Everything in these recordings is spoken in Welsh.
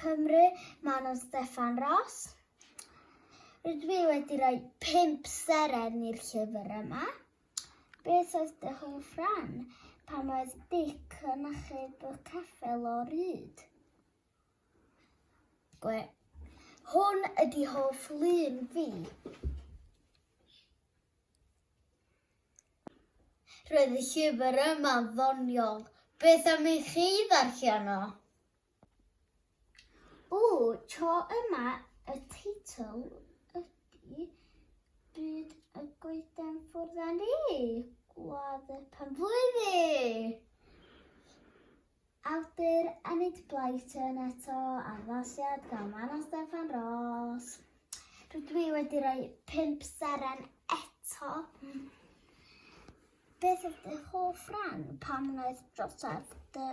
Cymru, Manon Steffan Ros. Rydw i wedi rhoi pimp seren i'r llyfr yma. Beth oedd dy hoff ran pan oedd Dic yn achub y ceffel o ryd? Gwe. Hwn ydi hoff lun fi. Roedd y llyfr yma'n ddoniol. Beth am i chi ddarllen o? O, tro yma y teitl ydy Byd y Goeden Ffwrdd â Ni, Gwlad y Penblwydd! Awdur Enid Blyton eto, addasiad gan Manon Steffan Ros. Rydw i wedi rhoi pimp seren eto. Mm. Beth oedd dy hoff ran pan wnaeth drosedd dy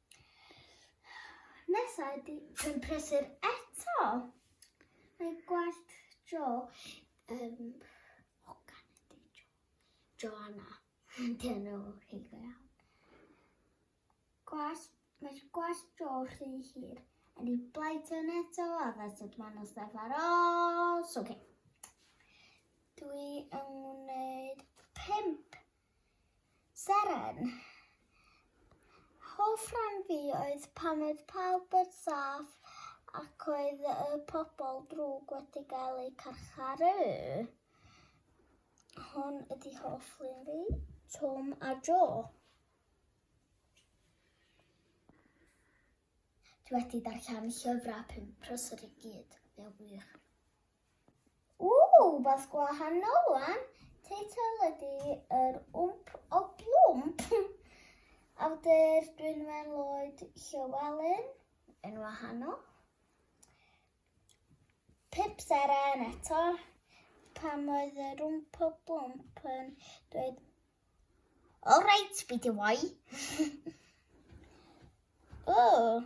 Nesa ydi yn prysur eto. Mae gwallt Jo yn hogan ydi Jo. Joanna. Dyn nhw chi go iawn. Gwallt, mae gwallt Jo rhy hir. A ni blaid yn eto a that's it man os def ar ôl. So, okay. Dwi yn gwneud pimp Seren. Hoff rhan fi oedd pan oedd pawb yn saff ac oedd y pobl drwg wedi gael eu carcharu. Hwn ydi hoff rhan fi, Tom a Joe. Dwi wedi darllen llyfrau pum prosod i gyd, fe wych. Ww, wbath gwahanol wan. Teitl ydi yr wmp o blwmp. Awdur Dwynwen Lloyd Llywelyn yn wahanol. Pip Seren eto, pam oedd yr wmp o blwmp yn dweud All right, fi di wai. Ww.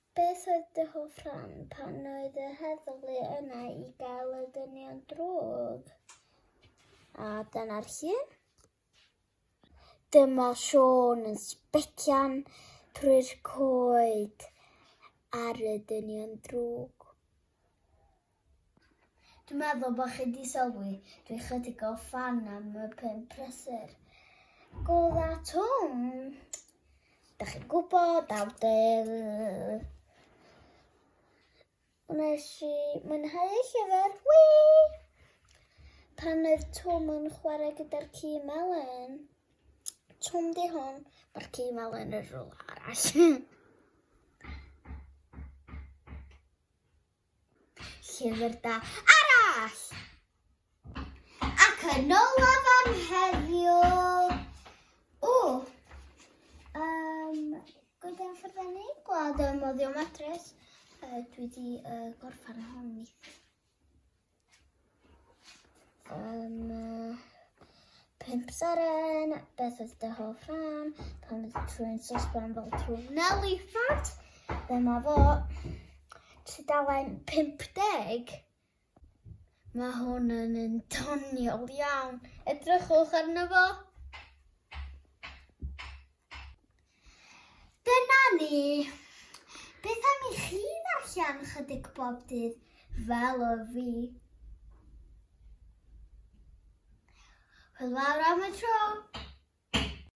Beth oedd dy hoff rhan pan oedd y heddlu yna i gael y dynion drwg? A dyna'r llun. Dyma Siôn yn sbecian trwy'r coed ar y dynion drwg. Dwi'n meddwl bod chi wedi sylwi, dwi chydig o fan am y pum prysur. Gola twn! Da chi'n gwybod, awdur... Wnes i mwynhau y llyfr, wi! Pan oedd Twm yn chwarae gyda'r ci melyn, Twm di hwn, mae'r ci melyn yn rhywle arall. Llyfr da arall! Ac yn olaf am heddiw... O! Um, Gwyd am fforddennu, gwlad ym moddio matres. Uh, dwi wedi uh, gorffan hon neithiwr. Um, pimp seren, beth oedd dy hoff rhan, pan oedd trwy'n sosban fel trwy Nelly Fat, dyma fo, tudalen 50. Mae hwn yn un doniol iawn, edrychwch arno fo. Dyna ni. Beth am i chi ddarllen chydig bob dydd fel o fi? Wel, fawr am y tro.